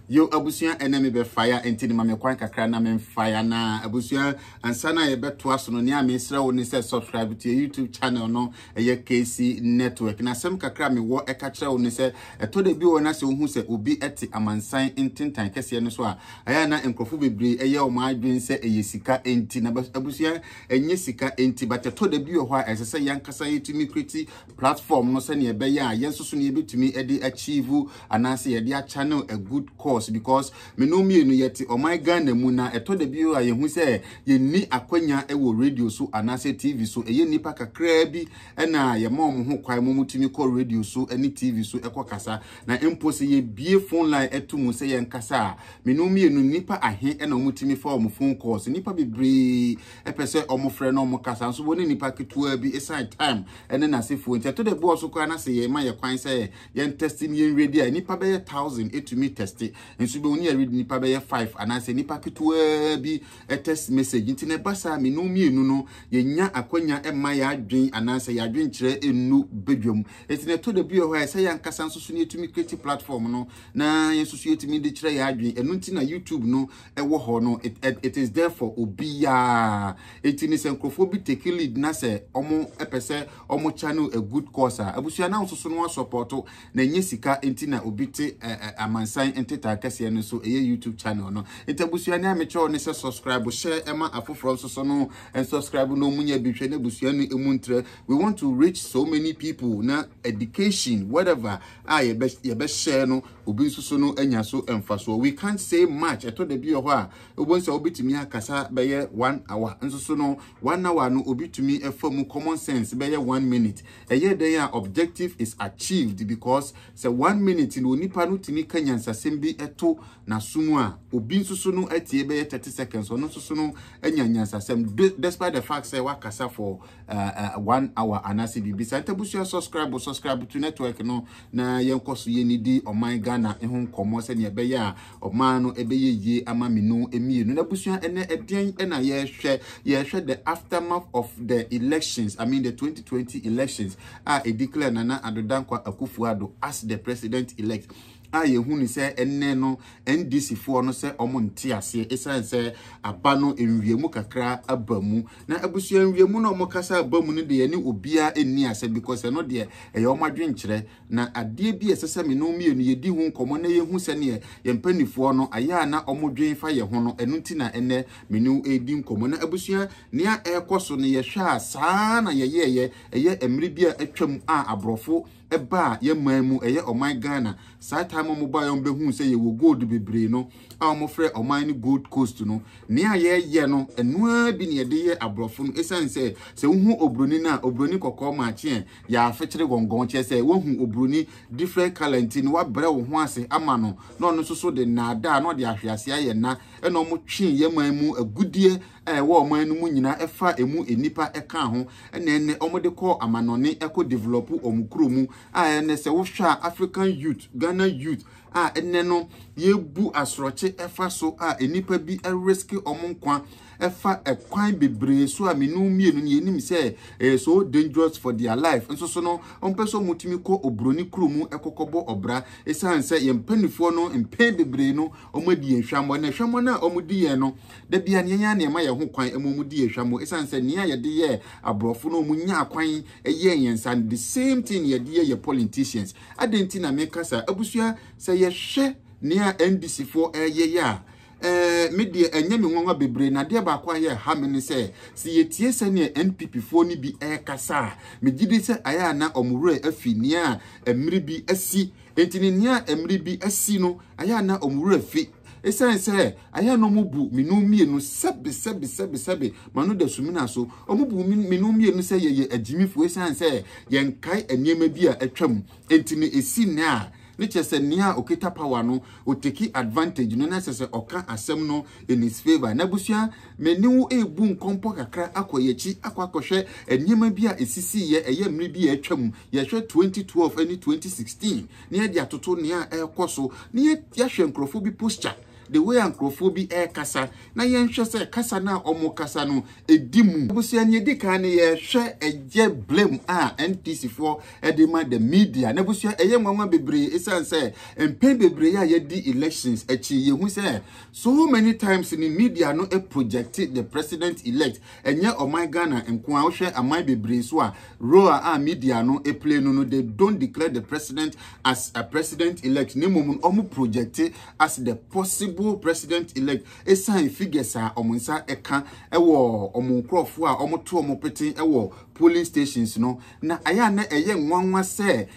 yo abusua ɛnɛ me bɛfaya nti ne ma me kwan kakra na memfaya na abusua ansa na yɛbɛtoa so no nea mesrɛ wo ne sɛ subscribe to your youtube channel no ɛyɛ KC Network. Na asɛm kakra a mewɔ ɛka kyerɛ wo ne sɛ, ɛtɔ da bi wɔ na sɛ wohu sɛ obi te amansan ntentan kɛseɛ no so a, ɛyɛ na nkurɔfo bebree ɛyɛ wɔn adwene sɛ ɛyɛ sika nti. Na abusua ɛnyɛ sika nti, but ɛtɔ da bi wɔ hɔ a ɛsɛ sɛ yɛnkasa yɛtumi kreti platform no sɛnea ɛbɛyɛ a yɛn nso so ne yɛbɛtumi ɛde achieve anaasɛ yɛde achannel a good cause because Me nom mmienu yɛte ɔman Ghana mu na ɛtɔ da bi a yɛhu sɛ yɛnni akwanya wɔ radio so anaasɛ TV so. Ɛyɛ nnipa kakraa bi na yɛma wɔn ho kwan ma wɔtumi kɔ radio so ne TV so kɔ kasa. Na mpo sɛ yɛbue phone line to mu sɛ yɛnkasa a, me nom mmienu nnipa ahe na wɔtumi fa wɔn phone calls. Nnipa bebree pɛ sɛ wɔfrɛ na wɔkasa nso wɔne nnipa ketewa bi ɛsiane time ne n'asefoɔ nti. Ɛtɔ da bi wɔ so koraa na sɛ yɛma yɛ kwan sɛ yɛn tɛste ne yɛn redi a nnipa bɛyɛ thousand etumi tɛste nso bɛhu ne yɛredi nnipa bɛyɛ five anaasɛ nnipa ketewaa bi test message nti na ɛba saa mmienu mmienu no yɛnya akwanya ɛma yɛadwen anaasɛ yɛadwen kyerɛ enu badwam nti na ɛtɔ da bi wɔ hɔ a ɛsɛ yɛn ankasa nso so ne yɛtumi create platform no na yɛn nso so yɛtumi de kyerɛ yɛadwen ɛno nti na youtube no ɛwɔ hɔ no it, it, it is there for obiara nti ne sɛ nkurɔfoɔ bi take lead na sɛ wɔn ɛpɛ sɛ ɔmo channel a good course a abusua na nsoso no asɔpɔto na ɛnyɛ sika nti na obi te amansan ntetaa kɛseɛ no so ɛyɛ YouTube channel no nti abusua ne a mekyerɛw ne sɛ subscribe hyɛ ɛma afoforɔ nsoso no subscribe na ɔmo nya bi hwɛ na abusua no emu ntrɛ we want to reach so many people na education whatever a yɛbɛhyɛ no obi nsoso no anya so mfasoɔ we can't say much ɛtɔ da bi wɔ hɔ a wobɛhu sɛ wobɛtumi akasa bɛyɛ one hour nsoso no One hour no obi tumi fa mu common sense bɛyɛ one minute. Ɛyɛ dɛn a objective is achieved because sɛ one minute no onipa no tumi ka nyansasɛm bi to n'aso mu a, obi nso so no atie bɛyɛ thirty seconds, ɔno nso so no anya nyansasɛm despite the fact sɛ wakasa for uh, uh, one hour anaasɛ biribi saa. Ntabusua subscribe subscribe to network no na yɛnkɔ so yɛnidi ɔman Ghana ho nkɔmmɔ sɛdeɛ ɛbɛyɛ a Ɔman no bɛyɛ yie ama me no mmienu. N'abusua ɛnɛ ɛdeɛn na yɛrehwɛ? Yɛrehwɛ the aftermath of the elections, I mean the 2020 elections a ɛdeclare Nana Addo Dankwa Akufo-Addo as the president elect a yɛhu ne sɛ ɛnɛ no NDC foɔ no sɛ ɔmo nte aseɛ ɛsiane sɛ aba no nwiamu kakra aba mu na abusua nwiamu no ɔmo kasa aba mu no deɛ ne obiara nni asɛ because ɛno deɛ ɛyɛ ɔmo adwenkyerɛ Na adeɛ bi a ɛsɛ sɛ me ne wo mmienu yɛdi ho nkɔmmɔ na yɛhu sɛdeɛ yɛn mpanimfoɔ no, ayɛ a na wɔdwen fa yɛn ho no, ɛno nti na ɛnnɛ me ne wo redi nkɔmmɔ. Na abusua, nea ɛrekɔ so no, yɛhwɛ a saa ara na yɛyɛeɛ ɛyɛ mmerɛ bi a atwam a aborɔfo baa yɛn man mu, ɛyɛ ɔman Ghana. Saa time a wɔbaeɛ a wɔbɛhuu sɛ yɛwɔ gold bebree no, a wɔfrɛ ɔman no Gold Coast no, nea yɛyɛ no, ɛno ara bi na yɛde yɛ aborɔfo no. Ɛsiane sɛ, sɛ wohu oburoni no a, oburoni kɔkɔɔ maakye ɛ, yɛafekyere gɔngɔn kyerɛ sɛ woahu oburoni different color nti no wabrɛ wo ho ase ama no na ɔno nso so de nnaadaa na ɔde ahwe ase ayɛ nna ɛna ɔmo twe yɛ man mu agudeɛ a ɛwɔ ɔman no mu nyinaa ɛfa emu nnipa ɛka ho ɛna ɛnɛ ɔmo de kɔ amanɔne ɛkɔ develop ɔmo kuro mu a ɛnɛ sɛ wohwɛ a African youth Ghana youth a ɛnɛ no yɛbu asorɔkye ɛfa so a nnipa bi risk wɔn nkwa ɛfa ɛkwan bebree so a menu mmienu no yɛnim sɛ ɛyɛ so dangerous for their life nso so no wɔmpɛ sɛ wɔtumi kɔ oburoni kuro mu ɛkɔkɔbɔ ɔbra ɛsiane sɛ yɛn mpanimfoɔ no mpɛn bebree no wɔadi yɛn hwammɔ na hwammɔ no a wɔdi yɛn no da bia nneɛma a nneɛma yɛn ho kwan ɛma wɔdi yɛn hwammɔ ɛsiane sɛ nea yɛde yɛ aborɔfo no wɔnya akwan ɛyɛ yɛn saa no the same thing yɛde yɛ yɛ politicians adɛn nti na meka saa abusua sɛ yɛhwɛ nea ndc foɔ ɛyɛyɛ a ɛɛ me deɛ ɛnyɛ me nwanwa bebree na adeɛ baako a yɛ ha me ne sɛ sɛ yɛtie sɛdeɛ npp foɔ no bi ɛrekasa a megye di sɛ ayɛ a na wɔn werɛ afi nea mmiri bi asi nti ne nea mmiri bi asi no ayɛ a na wɔn werɛ afi Esiane sɛ ayɛ a na wɔbu me ne wɔn mmienu sɛbesɛbesɛbesɛbe ma no da sumina so, wɔbu me ne wɔn mmienu sɛ yɛyɛ agyimifo esiane sɛ yɛnkae nneɛma bi a atwam nti no, esi nnɛ a ne kyerɛ sɛ nea a okita power no oteki advantage no na ɛsɛ sɛ ɔka asɛm no in his favour. N'abusua, me ne wo rebu nkɔmpɔ kakra akɔ yɛn akyi akɔ akɔhwɛ nneɛma bi a esisiiɛ ɛyɛ mmere bi a atwam, yɛhwɛ 2012 ne 2016. na yɛde atoto nea ɛrekɔ so na yɛahwɛ nkurɔfoɔ bi posture the way a nkurɔfoɔ bi ɛrekasa na yɛnhwɛ sɛ kasa no a wɔrekasa no ɛdi mu. Abusua nea ɛdi kan no yɛhwɛ ɛyɛ blame a NPC foɔ ɛde ma the media na abusua ɛyɛ nwanwa bebree ɛsiane sɛ mpɛn bebree a yɛdi elections akyi yɛhu sɛ so many times no media no project the president elect Ɛnyɛ ɔman Ghana nko ara, wohwɛ aman bebree nso a role a media no play no no they don't declare the president as a president elect na mmom no wɔn project as the possible president elect ɛsan figures a wɔn nsa ɛka ɛwɔ wɔn nkurɔfoɔ a wɔto wɔn pete ɛwɔ polling stations no na ayɛ a na ɛyɛ nwanwa sɛ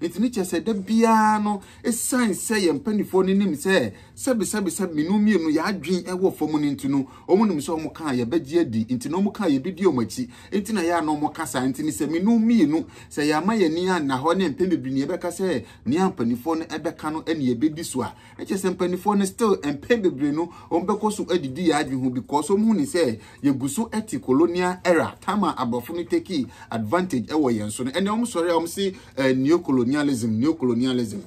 Ɛtumi kyerɛ sɛ da biara no, ɛsiane sɛ yɛn mpanimfoɔ no nim sɛ sɛbesɛbesɛbe mmienu mmienu yɛn adwene ɛwɔ fam no nti no, wɔn nim sɛ wɔn kaa yɛbɛgye adi, nti na wɔn kaa yɛbɛdi wɔn akyi, nti na yɛ a na wɔn ka saa, nti no sɛ mmienu mmienu, sɛ yɛama yɛn ani anna hɔ ne mpɛn bebree ne yɛbɛka sɛ nea mpanimfoɔ no ɛbɛka no ɛne yɛbɛdi so a, Ɛkyɛ sɛ mpaninfoɔ no still mpɛn bebree no wɔn bɛkɔ so adidi yɛ adwene ho because wɔn hu ne sɛ yɛgu so ɛte colonial era time a abrɔfo no tekii advantage ɛwɔ yɛn so no ɛnɛ wɔn sɔre a wɔn se eh, neocolonialism neocolonialism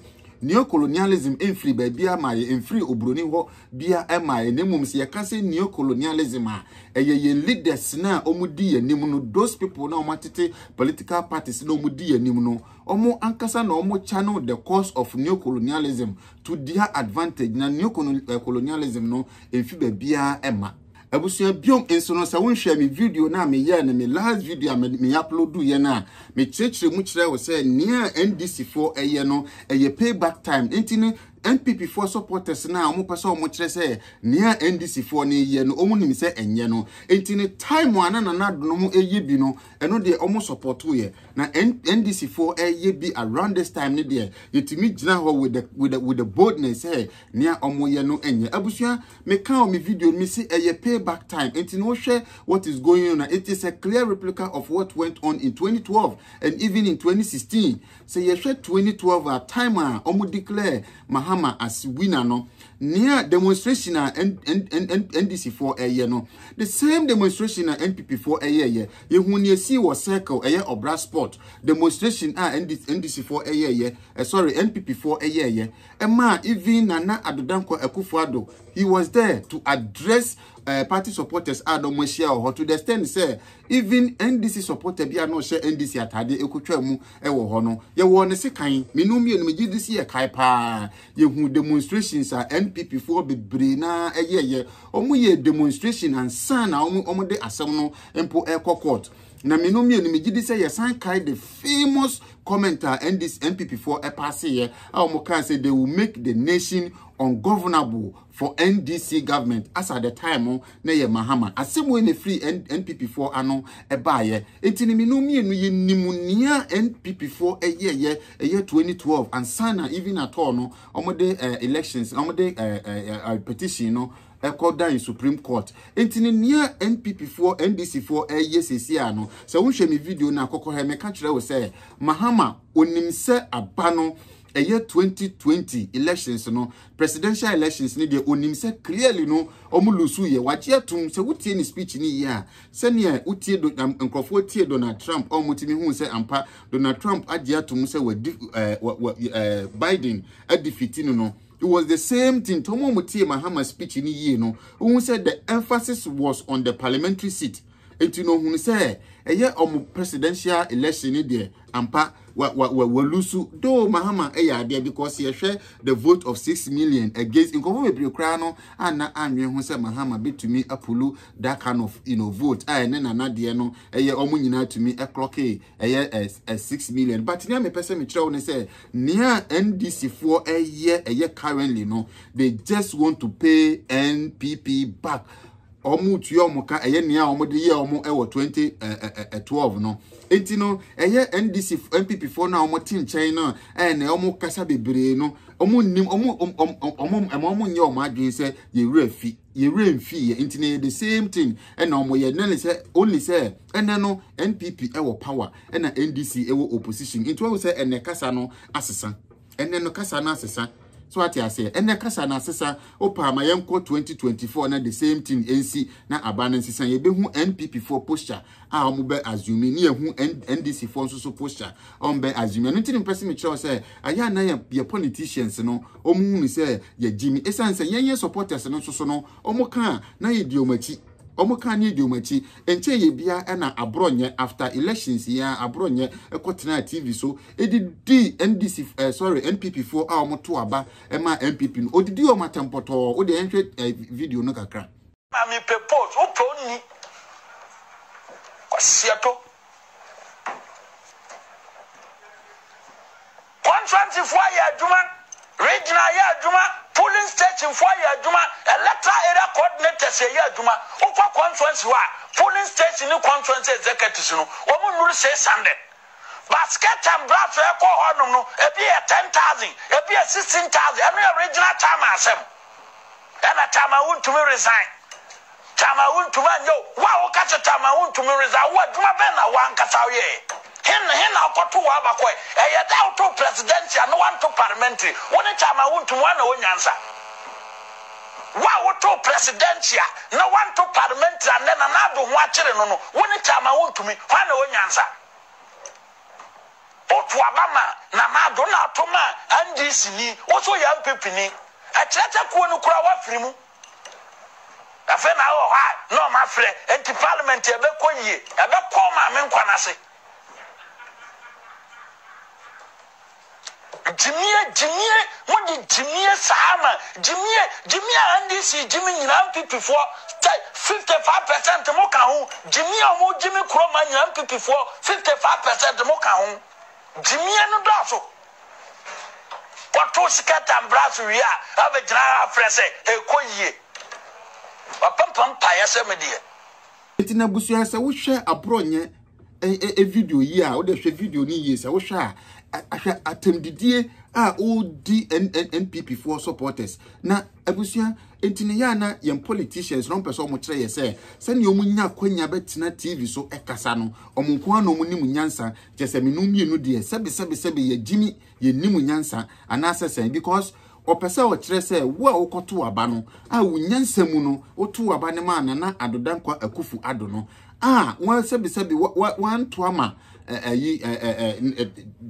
neocolonialism mfiri baabiara ma yɛ mfiri oburoni hɔ bia ɛma yɛ na mmom sɛ yɛka sɛ neocolonialism a ɛyɛ yɛn leaders no a wɔn di yɛn anim no those people na wɔn atete political parties na wɔn di yɛn anim no Wɔn ankasa na wɔn channel the course of neocolonialism to their advantage na neocolonialism no mfi baabiara ɛma. Abusua biom nso no sɛ wonhwɛ me video no a meyɛɛ no me last video a me uploadu yɛ no a mekyerɛkyerɛ mu kyerɛ wo sɛ nea NDC foɔ ɛyɛ no ɛyɛ payback time nti no NPP foɔ supporters no a wɔn pɛ sɛ wɔn kyerɛ sɛ nea NDC foɔ no yɛ no wɔn nim sɛ ɛnyɛ no nti no time a na nana donom ɛyɛ bi no Ɛno deɛ ɔmo supportoo yɛ. Na NDC foɔ ɛɛyɛ bi around this time no deɛ yɛtumi gyina hɔ with the with the with the boldness sɛ nea ɔmo yɛ no ɛnyɛ. Abusua me ka wɔ me video no me se ɛyɛ pay back time enti no wo hwɛ what is going on a it is a clear replica of what went on in 2012 and even in 2016 Sɛ yɛhwɛ 2012 a time a wɔn declare Mahama as winner no, nea demonstration a NDC foɔ ɛyɛ no, the same demonstration na NPP foɔ ɛyɛɛyɛ. Yɛhu nea ɛsii wɔ circle ɛyɛ ɔbra sport demonstration a NDC foɔ ɛyɛɛyɛ, eh, sorry NPP foɔ ɛyɛɛyɛ. Ɛmaa even Nana Addo Dankwa Akufo-Addo, he was there to address uh, party supporters a wɔn ahyia wɔ hɔ to the extent sɛ Even NDC supporter bi a na ɔhyɛ NDC ataadeɛ ɛkɔtwaa mu wɔ hɔ no, yɛwɔ ne sekan. Mmienu mmienu megye di sɛ yɛkae paa. Yɛhu demonstrations a NPP foɔ bebree na ɛyɛɛyɛ. Wɔyɛ demonstration ansa na wɔde asɛm no mpo ɛrekɔ court. Na mmienu mmienu megye di sɛ yɛsan kae the famous comment a NDC NPP foɔ ɛpaaseeɛ a wɔkaa sɛ they will make the nation ungovernable. for NDC government as at the time no na yɛ Mahama asɛm wei na ɛfiri NPP foɔ ano ɛbaayɛ nti ne mmienu mmienu yɛ nim nea NPP foɔ ɛyɛ yɛ ɛyɛ 2012 ansa na even at all no wɔde uh, elections wɔde uh, uh, uh, petition no ɛkɔ dan supreme court nti ne nea npp foɔ ndc foɔ ɛyɛ sisi a no sɛ wohwɛ me video na akɔkɔ hɛ meka kyerɛ wo sɛ mahama onim sɛ aba no ɛyɛ 2020 elections no presidential elections no deɛ onim sɛ clearly no wɔn lusu yɛ wagye atum sɛ wotie ne speech ne yie a sɛnea wotie do na nkurɔfoɔ tie donald trump a wɔn ti mi hu sɛ ampa donald trump agye atum sɛ wadi ɛɛ wɔ wɔ ɛɛ biden adi fiti no no it was the same thing tɔn wɔn tie mahama speech ne yie no wohu sɛ the emphasis was on the parliamentary seat. Nti no ohunu sɛ ɛyɛ ɔmo presidential election no deɛ ampa wa wa wa wa lusu though Mahama yɛ adeɛ because yɛhwɛ the vote of six million against nkɔfo bebree koraa no anna anwen ho sɛ Mahama betumi apulu that kind of you know vote a ɛne nana deɛ no ɛyɛ ɔmo nyinaa tumi ɛklɔke ɛyɛ ɛ six million but nea mepɛ sɛ mekyerɛ wo ne sɛ nea NDC foɔ ɛyɛ ɛyɛ currently no they just want to pay NPP back wɔretua wɔn ka, ɛyɛ nea wɔde yɛɛ wɔn wɔ 2012 no. Enti no, ɛyɛ NDC, NPP foɔ no a wɔte nkyɛn no a na wɔkasa bebree no, wɔnnim, wɔn, ɛma wɔn nyɛ wɔn adwene sɛ yɛn werɛ fi, yɛn werɛ mfi yɛ. Enti na ɛyɛ the same thing ɛna wɔyɛ, na ne sɛ only sɛ ɛnɛ no NPP wɔ power ɛna NDC wɔ opposition. Nti wɔn sɛ ɛnɛ kasa no asesa. ɛnɛ no kasa no asesa so ate aseɛ ɛnɛ kasa no asesa wopaa ma yɛnkɔ 2024 na the same thing ɛnsi na aba no nsesa yɛbɛhu npp foɔ posture a wɔn bɛ assume ne yɛhu ndc foɔ nso so posture a wɔn bɛ assume ɛno nti ne mpɛ sɛ mekyerɛw sɛ ayɛ ana yɛ yɛ politicians no wɔn hunu sɛ yɛgye mi ɛsiane sɛ yɛn yɛ supporters no nso so no wɔn ka na yɛdi wɔn akyi wɔn ka ne yɛdi wɔn akyi nkyɛn yɛ bia ɛna aborɔ nyɛ after elections yɛ aborɔ nyɛ ɛkɔ tena tv so Edidi NDC eh, sorry NPP foɔ a wɔn to aba ɛma NPP no odidi wɔn atɛmpɔtɔɔ o deɛ ɛnhwɛ eh, video no kakra. Maame pɛ post wo pɛ onni kwasiato contractfoɔ ayɛ adwuma regional ayɛ adwuma polling stationfoɔ ayɛ adwuma electoral area coordinators ayɛ adwuma wokɔ constituency hɔ a polling station ne constituency executives no wɔn nnuru 600 Basket and brass a ɛkɔ hɔ nom no ebi yɛ ten thousand ebi yɛ sixteen thousand ɛno yɛ regional chairman asɛm ɛna chairman wontumi resign chairman wontumi anyɛ o wo a woka sɛ chairman wontumi resign wo adwuma bɛn na wankasa woyɛ hen hen na wokɔto wɔ abakɔɛ ɛyɛ da woto presidential no wanto parliamentary wo ne chairman wontumi wana onyansa Wo a wotoo presidential na wanto parliamentary a nnɛ Nana Addo ho akyere no no, wo ne Chairman wontumi, hwan na ɛwɔ nyansa? Woto aba ma Nana Addo na ato ma NDC ni, wo nso woyɛ NPP ni. Ɛkyerɛ sɛ kuo no koraa woafiri mu. Afei na wowɔ hɔ a na wɔn afrɛ, enti parliament ɛbɛkɔ yie, ɛbɛkɔ wo maame nkwa no ase. Gyimie gyimie mo de gyimie saa ma gyimie gyimie a NDC gye me nyinaa NPP foɔ sɛ 55 percent mo ka ho gyimie a wɔn gye me kuro ma nyinaa NPP foɔ 55 percent mo ka ho gyimie no dɔɔso wɔto sika tambra so wie a abɛgyina ha afrɛ sɛ ɛkɔ yie wɔpɛmpɛ mpaeɛ sɛ me deɛ. Nti n'abusua sɛ wohwɛ aborɔ nyɛ e video yi a wode hwɛ video no yie sɛ wohwɛ a ahwɛ atɛmdidie a ɔredi npp foɔ supporters na abusua nti ne yɛ na yɛn politicians na ɔmpɛ sɛ ɔmo kyerɛ yɛ sɛ sɛnea ɔmo nya akwanya bɛtena tv so ɛkasa no ɔmo nko ara na ɔmo nim nyansa kyɛ sɛ menu mmienu deɛ sɛbi sɛbi sɛbi yɛ gyimi yɛ nim nyansa anaasɛ sɛn because ɔpɛ sɛ ɔkyerɛ sɛ wo a wokɔto aba no a wo nyansa mu no woto aba no ma nana adodankwa akufu ado no a wɔn sɛbisɛbi wɔanto ama ɛyi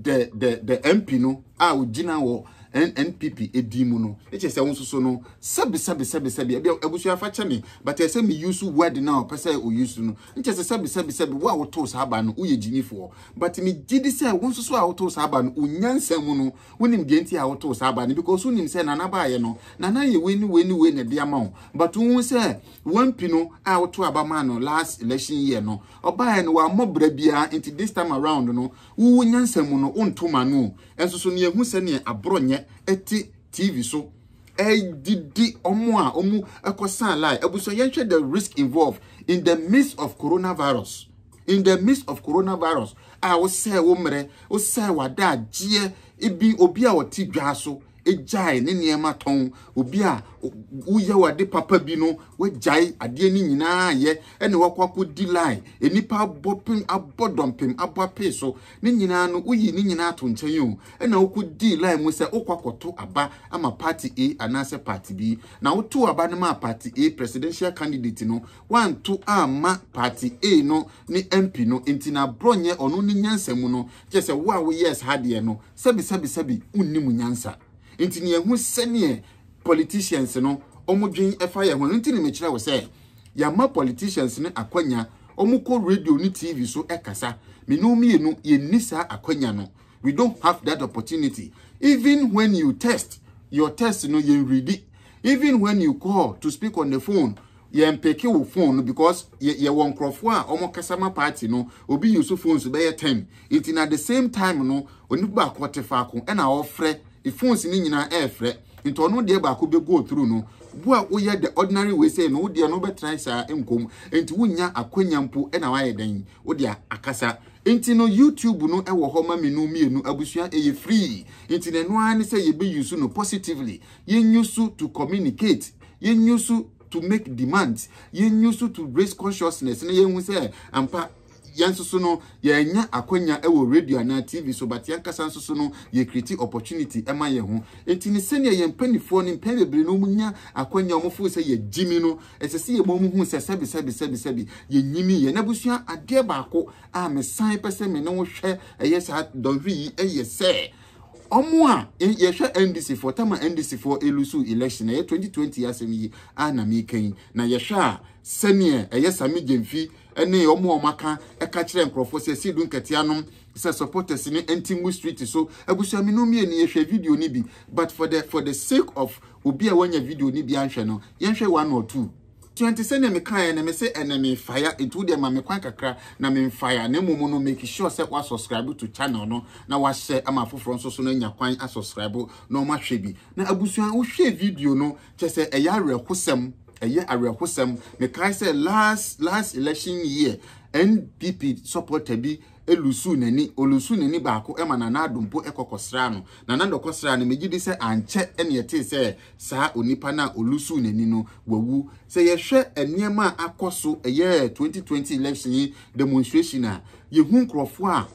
the the the MP no a ogyina wɔ NNPP edi mu no ekyɛ sɛ wɔn soso no sɛbisɛbi sɛbisɛbi ebi abusua afa kyɛ me but ɛsɛ me use word na ɔpɛ sɛ o use no nkyɛ sɛ sɛbisɛbi sɛbi wo a woto saa aba no woyɛ gyimifoɔ but me gye di sɛ wɔn soso a woto saa aba no onyansa mu no wonim deɛ nti a woto saa aba no because wonim sɛ nana baayɛ no nana yɛ wei ne wei ne wei na ɛde ama wo but wohu sɛ Wampi no a woto aba maa no last election year no, ɔbaeɛ no wammɔ bra biara nti this time around no wowo nyansa mu no wonto ma no o. Nso so nea ɛhu sɛdeɛ aborɔnyɛ te TV so ɛredidi wɔn a wɔkɔsaa line. Abusua yɛnhwɛ the risk involved in the midst of coronavirus in the midst of coronavirus a wosɛe wo mmerɛ, wosɛe w'adagyeɛ, ebi obi a ɔte dwa so gyae ne nneɛma tɔn, obi a woyɛ w'ade papa bi no, wagyae adeɛ no nyinaa yɛ, ɛna wakɔ akɔdi line, nnipa abɔ pem, abɔ dɔmpem, abɔ apee so, ne nyinaa no, woyi ne nyinaa to nkyɛn o, ɛna wokɔdii line mu sɛ wokɔ akɔto aba ama party A anaasɛ party B, na wotoo aba no maa party A presidential candidate no, woanto amma party A no ne MP no, nti na borɔnyɛ ɔno ne nyansa mu no, kyerɛ sɛ wo a woyɛɛ saa adeɛ no, sɛbisɛbisɛbi wonni mo nyansa nti ne yɛhu sɛneɛ politicians no wɔn dwen fa yɛn ho ɛno nti ne mekyerɛ wo sɛ yɛama politicians no akwanya wɔn kɔ radio ne tv so ɛkasa me ne wɔn mmienu yɛnni saa akwanya no we don't have that opportunity even when you test your test no yɛn redi even when you call to speak on the phone Yɛn peke wo phone no because yɛ yɛwɔ nkorɔfoɔ a wɔn kasa ma party no obi use phones bɛyɛ ten nti na the same time no onipa baako ɔte faako ɛna ɔfrɛ phones no nyinaa ɛɛfrɛ nti ɔno deɛ baako bɛ go through no wo a woyɛ the ordinary way say no wo deɛ no bɛtena saa nkom nti wonnya akwanya mpo ɛna wayɛ dɛn wo deɛ akasa nti no YouTube no ɛwɔ hɔ ma menu mmienu abusua ɛyɛ free nti na ɛno ara ne sɛ yɛbɛ use no positively yɛn use to communicate Yɛn use so to make demands. Yɛn use so to raise consciousness na yɛn hu sɛ ampa yɛn nso so no yɛanya akwanya wɔ radio anaa TV so but yɛn kasa nso so no yɛ create opportunity ɛma yɛn ho. Enti ne sɛnea yɛn mpanimfoɔ no mpɛn bebree no wɔn nya akwanya wɔn fo sɛ yɛ gyimi no ɛsɛ sɛ yɛ ma wɔn hu sɛ sɛbi sɛbi sɛbi sɛbi yɛ nyimi yɛ na busua adeɛ baako a mesan pɛ sɛ me ne wo hwɛ ɛyɛ saa dɔnhwere yi ɛyɛ sɛ ɔmo a yɛhwɛ NDC foɔ tam a NDC foɔ elusu election ɛyɛ 2020 asɛm yi a na meka yi na yɛhwɛ a sɛneɛ ɛyɛ Sami Gyamfi ɛne ɔmo a ɔmo aka ɛka kyerɛ nkorɔfoɔ sɛ ɛsi du nkatia nom sɛ supporters ne ɛnti mu street so abusua mi no mmienu yɛhwɛ video no bi but for the for the sake of obi a wanya video no bi anhwɛ no yɛnhwɛ one or two. Twenty, sɛnea mekaeɛ no, mese ɛnɛ mefaya, nti wo deɛ ma me kwan kakra na memfaya, na mmom no make sure sɛ wa subscribe to channel no na wa share ama afoforɔ nso so no anya kwan a subscribe na wɔn ahwɛ bi. Na abusua wohwɛ video no kyɛ sɛ ɛyɛ awerɛhosɛm, ɛyɛ awerɛhosɛm. Mekae sɛ last last election year NPP supporter bi elusu n'ani olusu n'ani baako ɛma nana adompo ɛkɔkɔsra no nana dɔkɔsra no megye di sɛ ankyɛ ɛne ɛte sɛ saa onipa no a ɔlusuu n'ani no wawu. Sɛ yɛhwɛ nneɛma a akɔ so ɛyɛ 2020 election yi demonstration a, yɛhu nkurɔfoɔ a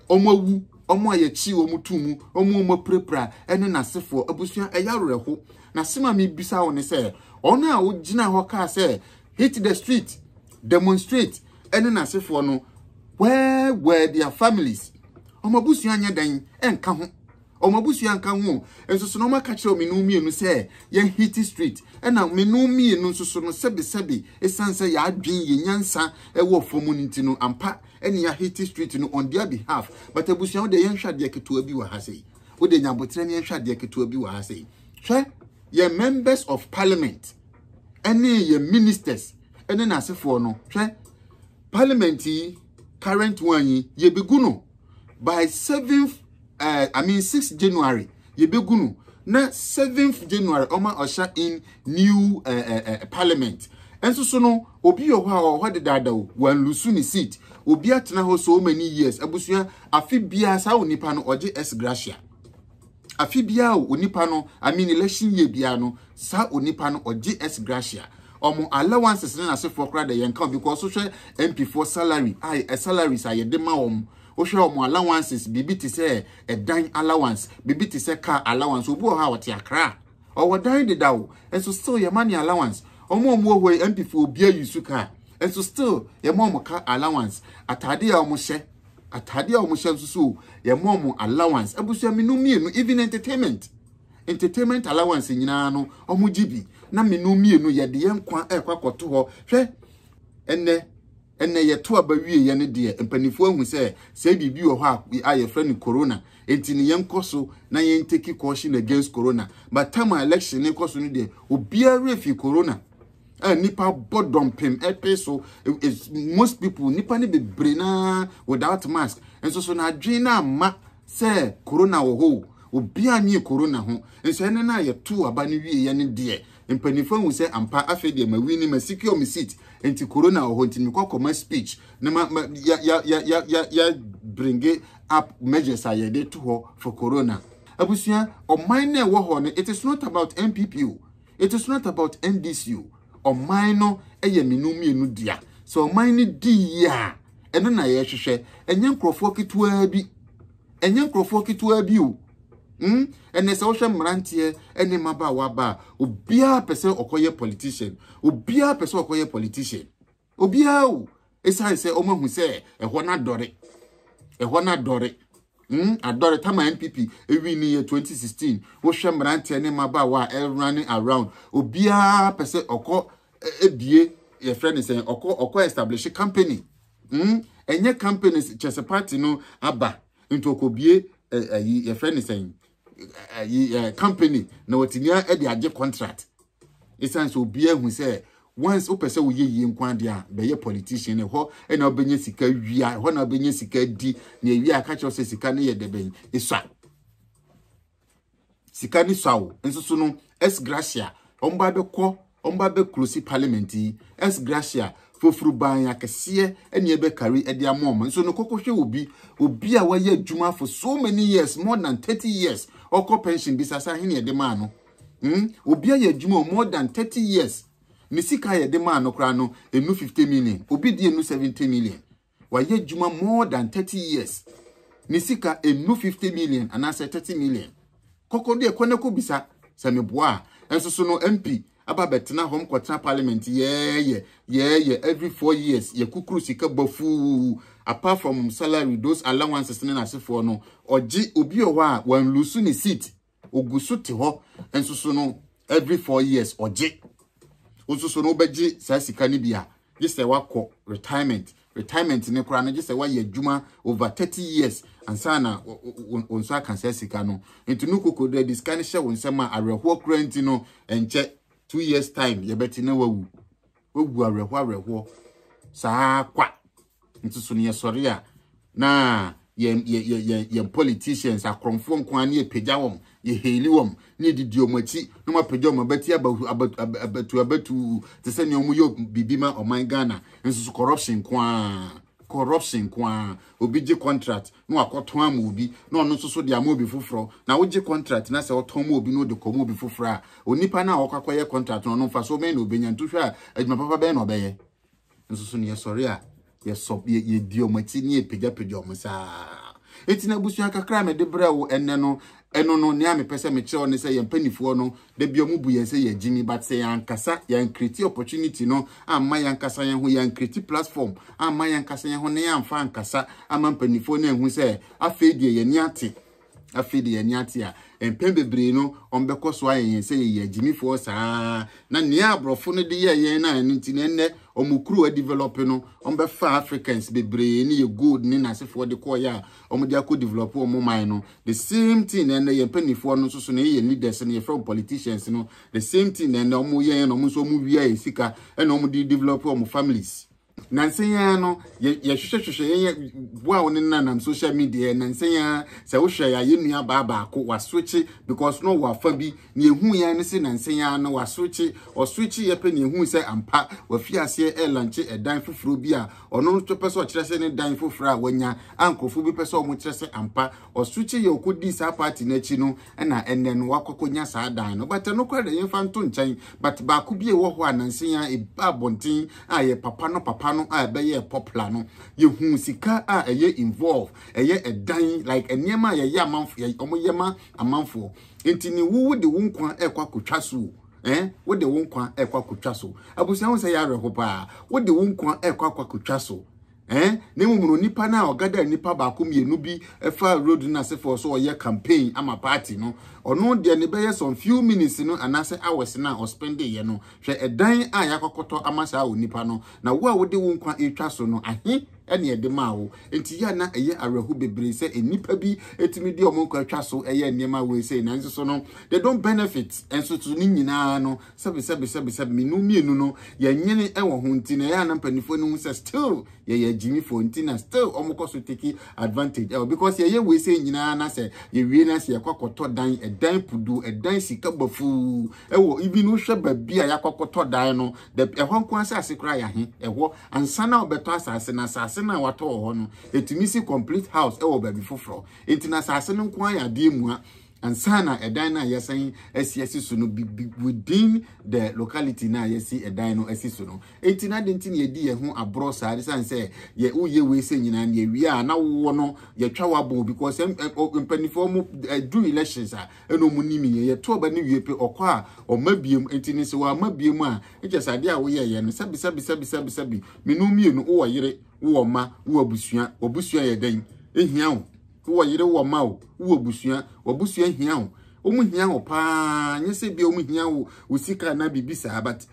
wɔn awu, wɔn a yɛkyi wɔn tu mu, wɔn a wɔn apirapira ɛne n'asefoɔ, abusua ɛyɛ awerɛho. Na sɛm a mebisa wo ne sɛ, wɔn a wogyina hɔ kaa sɛ hit the street, demonstrate ɛne n'asefoɔ no, where were their families? Wɔn abusua nyɛ dɛn ɛnka ho? wɔn abusua nka ho nso so na wɔaka kyerɛ wɔn mmienu mmienu sɛ yɛn hiti street ɛna mmienu mmienu nso so no sɛbesɛbe esan sɛ yɛadwen yɛn nyansa ɛwɔ fam no nti no ampa ɛne ya hiti street no on their behalf but abusua wo deɛ yɛn hwɛ adeɛ ketewa bi wɔ ha sɛ wo deɛ nyabotere ne yɛn hwɛ adeɛ ketewa bi wɔ ha sɛ hwɛ yɛn members of parliament ɛne yɛn ministers ɛne n'asefoɔ no hwɛ parliament yi current one yi yɛbɛgu no by seventh uh, i mean six january yɛbɛgu no na seventh january ɔma ɔhyɛ in new uh, uh, uh, parliament ɛnso so no obi wɔ hɔ a ɔwɔ hɔ dedaada o wanlusu ne seat obi atena hɔ so many years abusua afe biara saa onipa no ɔgye s gracia Afe biara o onipa no I mean election year biara no saa onipa no ɔgye S gratia. Ɔmo allowances ne n'asefoɔ koraa dɛ yɛnka o because wohwɛ MP foɔ salary a ɛ salaries a yɛde ma wɔn wohwɛ wɔn allowances biribi te sɛ ɛdan allowance biribi te sɛ car allowance obi wɔ hɔ a ɔte akra ɔwɔ dan deda o nso still yɛma ne allowance wɔn a wɔn wɔ hɔ yi MP foɔ obi ayi su car nso still yɛma wɔn car allowance ataade a wɔn hyɛ. atade a wɔhyɛ nso so yɛma wɔn allowance abusua mmienu mmienu even entertainment entertainment allowance nyinaa no wɔn gye bi na mmienu mmienu yɛde yɛn kwan ɛkɔ akɔto hɔ hwɛ ɛnɛ ɛnɛ yɛto aba wie yɛ ne deɛ mpanimfoɔ ahu sɛ sɛ biribi wɔ hɔ a yɛfrɛ no corona nti ne yɛn kɔ so na yɛn take caution against corona but time election ne kɔ so no deɛ obiara fi corona a nipa bɔ dɔmpem ɛpe so most people nipa ne bebree naa without mask nso so na adwene na ama sɛ corona wɔ hɔ obi anyi corona ho nso ɛne na yɛ to aba ne wie yɛ ne deɛ mpanimfo ahu sɛ ampa afei deɛ ma wini ma secure me seat nti corona wɔ hɔ nti mekɔ kɔma speech ne ma ya ya ya ya ya ya bringe up measures a yɛde to hɔ for corona abusua ɔman na ɛwɔ hɔ no it is not about npp o It is not about NDC o, ɔman no yɛ mmienu mmienu dea. Sɛ ɔman no di yie a, ɛno na yɛhwehwɛ. Ɛnyɛ nkurɔfoɔ ketewaa bi. Ɛnyɛ nkurɔfoɔ ketewaa bi o. Mm, ɛnɛ sɛ wohwɛ mmeranteɛ ne mmabaawa ba a, obiara pɛ sɛ ɔkɔyɛ politician. Obiara pɛ sɛ ɔkɔyɛ politician. obiara o ɛsiane sɛ wɔn ahu sɛ ɛhɔ no adɔre ɛhɔ no adɔre mm adɔre tama npp ewi ni yɛ 2016 wohwɛ mmeranteɛ ne mmabaawa a ɛrunning around obiara pɛ sɛ ɔkɔ ebie yɛfrɛ ne sɛn ɔkɔ ɔkɔ establish company mm ɛnyɛ companies kyɛsɛ party no aba nti ɔkɔbie ɛyi yɛfrɛ ne sɛn ɛyi company na wɔtumi de agye contract ɛsiane sɛ obiara hu sɛ once wopɛ sɛ woyɛ yie nko adeɛ a bɛyɛ politician ɛhɔ ɛna wobɛnya sika wia ɛhɔ na wobɛnya sika di na ɛwia aka kyerɛ sɛ sika no yɛ dɛ bɛn ɛsua sika no sua o nso so no s gracia wɔn ba bɛkɔ Ɔmba bɛ close parliament yi S Gracia foforo ban akɛseɛ ɛne ɛbɛ carry ɛde ama ɔmo nso no kɔkɔ hwɛ obi obi a wayɛ adwuma for so many years more than thirty years ɔkɔ pension bisa sɛ ahe na yɛde maa no hmm obi ayɛ adwuma o more than thirty years ne sika a yɛde maa no koraa no ɛnu fifty million obi deɛ ɛnu seventy million Wayɛ adwuma more than thirty years. Ne sika ɛnnu fifty million anaasɛ thirty million. Kɔkɔ deɛ kɔ na kɔbisa sɛ meboa a. Nso so no MP aba abɛtena hɔ, mkɔtena parliament yɛɛyɛ yɛɛyɛ every four years yɛkukuru sika bɔ fuu. Apart from salary, those allowances ne n'asefoɔ no, ɔgye, obi wɔ hɔ a wanlusu ne seat. ogu so te hɔ nso so no every four years ɔgye nso so no wobɛgye saa sika no bi a gye sɛ wakɔ retirement retirement ne koraa no gye sɛ wayɛ adwuma over thirty years ansa na wo nsa aka saa sika no nti no koko dɛ de sika no hyɛ wo nsɛm a awerɛhoɔ koraa nti no ɛnkyɛ two years time yɛbɛte na wawu wawu awerɛhoɔ awerɛhoɔ saa kwa Nso so no yɛsɔre a na yɛn yɛn yɛn yɛn politicians akorɔmfoɔ nko ara ne yɛpagya wɔn yɛhɛli wɔn ne yɛdidi wɔn akyi na wɔn apagya wɔn abati abatu abatu abatu te sɛ nea wɔn yɛ biribi ma ɔman Ghana nso so corruption nko ara corruption nko ara obi gye contract na wakɔtɔn ama obi na ɔno nso so de ama obi foforɔ na wogye contract na sɛ ɔtɔn ma obi na ɔde kɔma obi foforɔ a onipa no a wɔkɔ akɔyɛ contract no ɔno mfa so bɛn na ɔbɛnya ntohwɛ a adwuma papa bɛn na ɔbɛyɛ nso so no yɛsɔre a yɛsɔ yɛdi wɔn akyi ne yɛpagyapagya wɔn saa eti na abusua kakra a mede brɛ wo ɛnɛ no ɛno no nea mepɛ sɛ mekyerɛw ne sɛ yɛn mpanimfoɔ no da bi wɔn bu yɛn sɛ yɛn gyimi but sɛ yɛn ankasa yɛn create opportunity no amma yɛn ankasa yɛn ho yɛn create platform amma yɛn ankasa yɛn ho ne yɛn amfa ankasa ama mpanimfoɔ no ehu sɛ afei deɛ yɛn ni ate Afei deɛ yɛn ani ate a, mpɛn bebree no, wɔbɛkɔ so ayɛ yɛn sɛ yɛyɛ agyimifoɔ saa na nea aborɔfo no de yɛɛ yɛn no a ɛno nti na ɛnnɛ wɔn kuro adevelɔpe no, wɔbɛfa Africans bebree ne yɛ gold ne n'asefoɔ de kɔɔyɛ a wɔde akɔ develɔpe wɔn man no. The same thing na ɛnnɛ yɛn mpanimfoɔ no nso so na yɛyɛ leaders no, yɛfrɛ wɔn politicians no, the same thing na ɛnnɛ wɔyɛ yɛn na wɔn nso wɔwia yɛ sika ɛna wɔde develɔpe wɔn families. Nansa yi ara no, yɛhwehwɛhwehwɛ yɛn yɛ boa wo ne nanam social media nansa yi ara sɛ wohwɛ yɛ ayɛ nua baa baako waswitche because no wɔ afa bi na ehu yɛ ne se nansa yi ara no waswitche ɔswitche yɛ pɛ na ehu sɛ ampa wafi aseɛ ɛlanche ɛdan foforɔ bi a ɔno nso pɛ sɛ ɔkyerɛ sɛ ne dan foforɔ a wanya a nkurɔfoɔ bi pɛ sɛ wɔn kyerɛ sɛ ampa ɔswitche yɛ ɔkɔdii saa party no akyi no ɛna ɛnɛ no wakɔ akɔnya saa dan no but ɛno koraa deɛ yɛmfa nto nkyɛn but baako bi a ɛwɔ hɔ a nansa yi ara ɛba abɔnten a ɛyɛ papa no papa no a ɛbɛyɛɛ popular no yɛhuu sika a ɛyɛ involve ɛyɛ ɛdan like nneɛma a yɛyɛ amanfo yɛ wɔyɛ ma amanfoɔ nti ne wo wode wo nkwa ɛkɔ akɔtwa so o eh wode wo nkwa ɛkɔ akɔtwa so abusua ho sɛ yɛ awerɛho paa wode wo nkwa ɛkɔ akɔtwa so Eh? Na mmom no, nipa no a ɔgada nipa baako mmienu bi fa road no ase fɔ so ɔyɛ campaign ama party no, ɔno deɛ ne bɛyɛ some few minutes no anaasɛ hours no a ɔspende yɛ no, hwɛ ɛdan a yɛakɔkɔtɔ ama saa onipa no, na wo a wode wo nkwa retwa so no, ahe na ɛde maa wo? Enti yɛ a na ɛyɛ awerɛho bebree sɛ nnipa bi tumi de wɔn nkwa twa so yɛ nneɛma wei sei, nanso so no, they don't benefit, nso so ne nyinaa no, Sɛbe, sɛbe, sɛbe, sɛbe, me nu mmienu no, yɛnyene wɔ ho nti na ɛyɛ a na mpanimfoɔ no hu sɛ still yɛyɛ agyimifoɔ nti na still wɔkɔ so take advantage ɛwɔ because yɛyɛ wei sɛ nyinaa na sɛ yɛwie na sɛ yɛkɔ akɔtɔ dan ɛdan pudu ɛdan sika bafuu ɛwɔ ibi no hwɛ baabi a yɛakɔ akɔtɔ dan no da ɛhɔ nko asase koraa yɛahe ɛhɔ ansa na wɔbɛtɔ asase na asase no a watɔ wɔ hɔ no ɛtumi si complete house ɛwɔ baabi foforɔ nti na asase no nko ayɛ adeɛ mua Ansa na ɛdan no a yɛasan asi asi so no bi within the locality no a yɛasi ɛdan no asi so no. Enti na adɛn nti na yɛdi yɛn ho aborɔ saa? Ɛsiane sɛ yɛ woyɛ wei sɛ nyinaa no yɛwie a na wowɔ no yɛtwa wabɔn because mpanimfoɔ mo do elections a ɛna ɔmo nim yɛ yɛto ɔba no wie pe ɔkɔ a ɔma biem enti ne sɛ wɔama biem a ɛkyɛ sɛ adeɛ a woyɛɛyɛ no sɛbi sɛbi sɛbi sɛbi sɛbi menu mmienu wowɔ yere wowɔ mma wowɔ abusua wɔ abusua yɛ dɛn ɛhia wo Wowɔ yere, wowɔ mma o, wowɔ abusua, w'abusua hia o. Wɔn hia o paa. Nyɛ sɛ bia wɔn hia wo wo sika na biribi saa but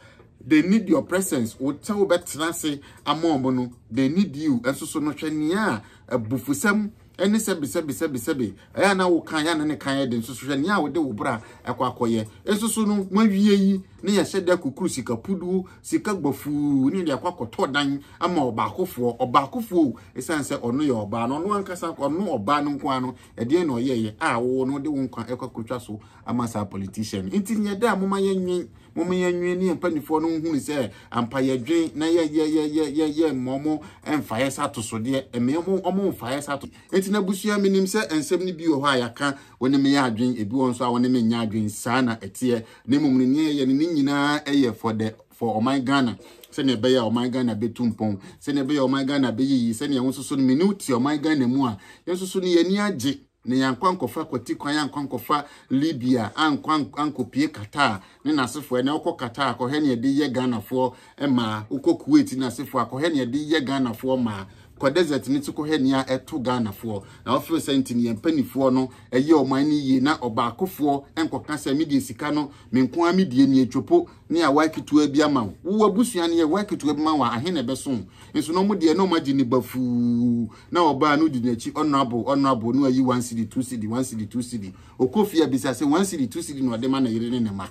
they need your presence. Wo sɛ wobɛtena ase ama wɔn no, they need you. Nso so no hwɛ nea abufusɛm ɛne sɛbe sɛbe sɛbe sɛbe ɛyɛ na wo kan yɛ na ne kan yɛ de nso so hwɛ nea wode wo bra ɛkɔ akɔyɛ. Nso so no mo awie yi Ne yɛhyɛ da kukuru sika puduo, sika gbafuu ne yɛde akɔ akɔtɔ dan ama ɔbaakofoɔ. Ɔbaakofoɔ o, ɛsiane sɛ ɔno yɛ ɔbaa na ɔno ankasa, ɔno ɔbaa no nko ara no, ɛdeɛn na ɔyɛeɛ a wo no wode wo nkwa ɛkɔ akɔtwa so ama saa politician no? Nti nyɛ dɛ, momma yɛnnwen, momma yɛnnwen ne yɛn mpanimfoɔ no nhunu sɛ ampa yɛdwen na yɛ, yɛ, yɛ, yɛ, yɛ, yɛmma wɔn mfaeɛ sɛ atosodeɛ, ɛmɛ wɔn, wɔn mfaeɛ sɛ atosodeɛ. Nti n'abusua, menim sɛ nsɛm no bi wɔ hɔ a yɛaka, wo ne me yɛ adwen, ebi wɔ hɔ nso a wo ne me nyɛ adwen, saa na ɛteɛ. na mmom ne nea ɛyɛ no ne nyinaa yɛ for the for ɔman ghana sɛnea ɛbɛyɛ a ɔman ghana bɛtu mpɔn sɛnea ɛbɛyɛ ɔman ghana bɛyiyi sɛnea wo nsoso no mene wo te ɔman ghana mu a yɛn nsoso no yɛni agye na yɛankɔ ankɔfa kwati kwan ankɔ ankɔfa libya ankɔ ankɔpie qatar ne n'asefoɔ ɛnɛ wokɔ qatar kɔhwɛ ne ɛde yɛ ghanafoɔ ɛmaa wokɔ kuwait na asefoɔ akɔhɛ nea ɛde yɛ ghanafoɔ maa kɔ desert ne ti kɔhɛ nea ɛto ghanafoɔ na wɔfiri sɛ nti ne yɛn mpanimfoɔ no ɛyɛ ɔman no yie na ɔbaakofoɔ nkɔka sɛ medeɛ sika no me nko ara medie ne atwopo ne awa ketewa bi ama wo wo abusua no yɛ wa ketewa bi ma wɔ ahe na ɛbɛso nso na ɔmo deɛ na ɔmo agye ne bafuu na ɔbaa no di n'akyi honorable honorable no ayi one city two city one city two city okɔ fie abisa sɛ one city two city na ɔde ma ne yere ne ne ma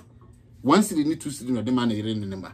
one city ne two city na ɔde ma ne yere ne ne ma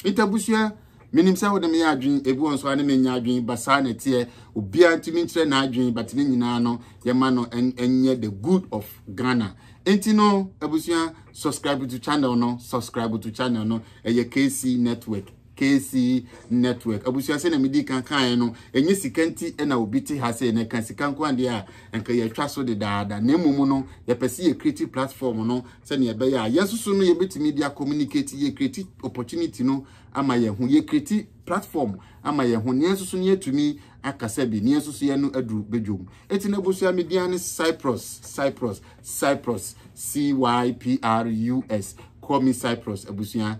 nti abusua menim sɛ wode meyɛ adwene ebi wɔn so ane menya adwene ba saa na ɛteɛ obiara ntumi nkyerɛ n'adwene but ne nyinaa no yɛma no ɛnyɛ the good of ghana nti no abusua subscribe to channel no subscribe to channel no ɛyɛ kc network KC network abusua sɛ na medi kan kaeɛ no ɛnyɛ sika nti na obi te ha sɛ na ɛka sika nko adeɛ a nka yɛatwa so dedaada na mmom no yɛpɛ sɛ yɛ creative platform no sɛnea ɛbɛyɛ a yɛn soso no yɛbɛtumi de communicate yɛ creative opportunity no ama yɛn ho yɛ creative platform ama yɛn ho nea soso no yɛtumi akasa bi nea soso yɛ no aduru bedwom eti na abusua media ne cyprus cyprus cyprus c y p r u s call me cyprus abusua